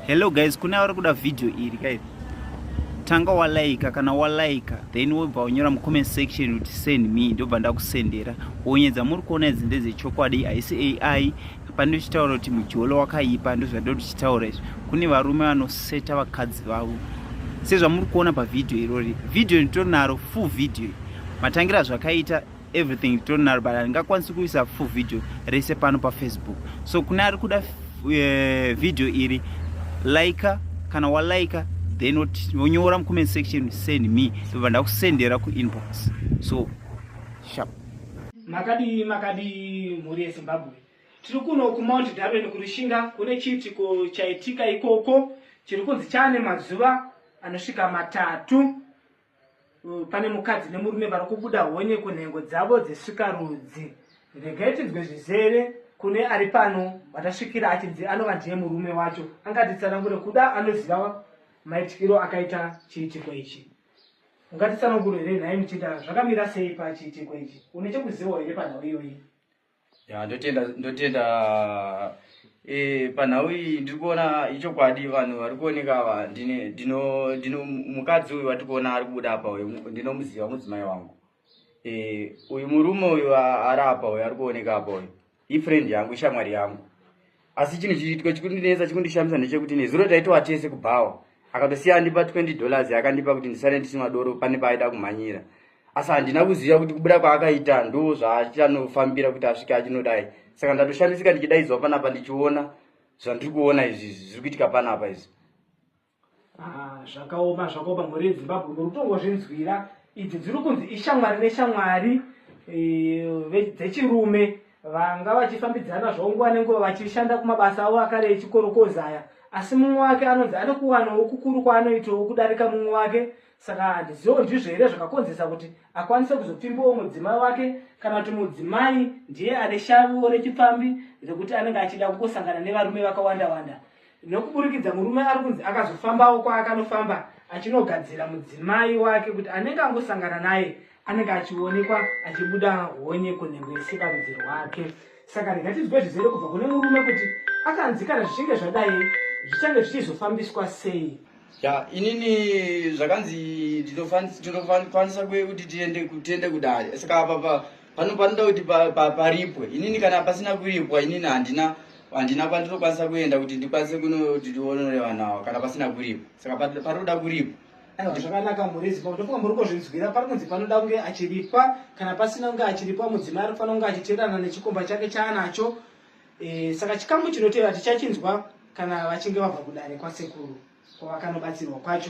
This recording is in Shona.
hello guys kune avari kuda video iri kai tanga walaika kana walaika then wobva unyora mucomment section kuti send me ndobva ndakusendera wonyedza muri kuona idzi ndedzechokwadi haisi ai pane uchitaura kuti mujolo wakaipa ndozvandiri tichitaura izvi kune varume vanoseta vakadzi vavo sezvamuri kuona pavhidhiyo irori vhidhiyo nditonaro full vhidhiyo matangira zvakaita everything titori naro but handingakwanisi kuisa full video rese pano pafacebook so kune ari kuda uh, video iri laika kana walaika then wonyora mucomment section send me tobva ndakusendera kuinbox so sharp makadii makadii mhuri yezimbabwe tiri kuno kumount darwin kurushinga kune chiitiko chaitika ikoko chiri kunzi chaane mazuva anosvika matatu pane mukadzi nemurume vari kubuda honye kunhengo dzavo dzesvika rudzi regai tinzwe zvizere kune ari pano vatasvikira achinzi anova ndiye murume wacho angatitsanangure kuda anoziva maitikiro akaita chiitiko ichi ungatitsanangure here nhai muchinda zvakamira sei pachiitiko ichi une chekuzivawo here panhau iyoyi ya ndotenda ndotenda e, panhau iyi ndiri kuona ichokwadi vanhu vari kuoneka ava ndine ndino ndino mukadzi uyu vatiri kuona ari kubuda apa uyu ndinomuziva mudzimai wangu e, uyu murume uyu ari apa uyu ari kuoneka apa uyu ifriend yangu ishamwari yangu asi chinhu chiitwa chikundinetsa chikundishamisa ndechekuti nezuro taitowa tese kubhawa akatosiya andipa 20 dollars yakandipa kuti ndisare ndichinwa doro pane paaida kumhanyira asi handina kuziva kuti kubuda kwaakaita ndo zvaachanofambira kuti asvike achinodai saka ndatoshamisika ndichidaidzwa panapa ndichiona zvandiri kuona izvi zviri kuitika panapa izvi Ah, zvakaoma zvakaoma mhuri yezimbabwe muri kutongozvinzwira idzi dziri kunzi ishamwari neshamwari eh, dzechirume vanga vachifambidzana zvavo nguva nenguva vachishanda kumabasa avo akare echikorokozaya asi mumwe wake anonzi ane kuwanawo kukuru kwaanoitawo kudarika mumwe wake saka handiziwo ndizvo here zvakakonzesa kuti akwanise kuzopfimbawo mudzimai wake kana kuti mudzimai ndiye ane shaviwo rechipfambi rekuti anenge achida kungosangana nevarume vakawanda wanda nokuburikidza murume ari kunzi akazofambawo kwaakanofamba achinogadzira mudzimai wake kuti anenge angosangana naye anenge achionekwa achibuda honye kunhengo isika rudzi rwake saka ringatinzwe zvizere kubva kune murume kuti akanzi kana zvichinge zvadai zvichange zvichizofambiswa sei ya inini zvakanzi tinokwanisa kuye kuti tiende kudare saka apapa pano panoda kuti pa- pa- paripwe inini kana pasina kuripwa inini handina handina kwandinokwanisa kuenda kuti ndikwanise kunoti ndionore vanhu ava kana pasina kuripwa saka pa- panoda kuripwa aiwa zvakanaka murezi pa ndofunga muri kuzvinzwira pari kunzi panoda kunge achiripwa kana pasina kunge achiripwa mudzimai ari kufanira kunge achiteerana nechikomba chake chaanacho Eh, saka chikamu chinotevera tichachinzwa kana vachinge vabva kudare kwasekuru kwavakanobatsirwa kwacho